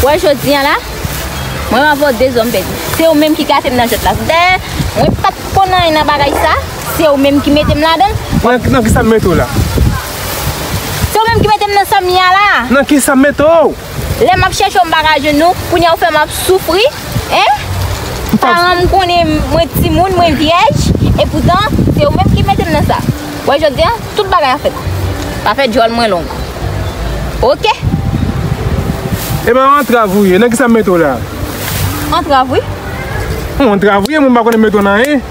Wè jodi an la, mwen va vò de zòm pèdi. Se ou menm ki gate m nan jwèt la. Dè, mwen pat konn anyen nan bagay sa, se ou menm ki mete m ladan. Nan ki sa m mete w la? Se ou menm ki mete m nan sa m ye a la. Nan ki sa m mete w? Lè map chèche w m paka jwenn ou, kounye a ou fèm ap soufri hein Paran m konnen mwen timoun, mwen vyèj E poutan se ou menm ki mete m nan sa Ou wè jodi an tout bagay an fèt Pa fè djòl mwen long Ok E ba w antrav ou ye, nan kisa m mete w la? Antrav wi Yon antrav ou ye mwen m pa konnen m mete w nan anyen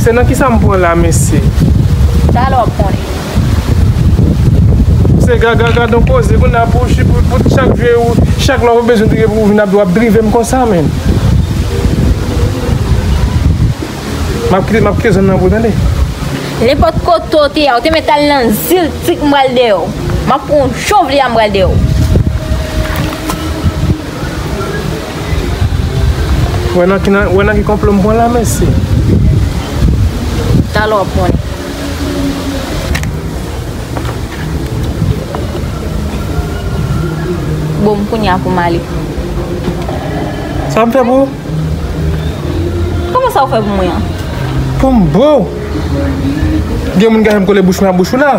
Se nan kisa m pran la mesye. Talè wap konnen. Se gaga gadon koze kounya pou chak vye ou chak lè ou bezwen drive pou vin ap wap drive m konsa menn. Map kite map kite zòn nan pou ou tande. Nenpòt kote ou te ya ou te mèt al nan zil tik m pral dèyè w. Map pran w jan w vle a m pral dèyè w. Wè nan ki nan, wè nan ki konplo m pran la mesye. Talè wap konnen. Bon m kounye a pou m ale. Sa m fè pou ou? Kòman sa ou fè pou mwen an? Pou m boo? Gen moun gaye m kole bouch mwen a bouch ou la.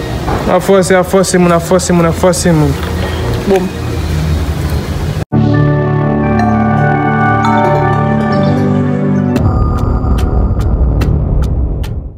Ap fòse ap fòse moun ap fòse moun ap fòse moun bon.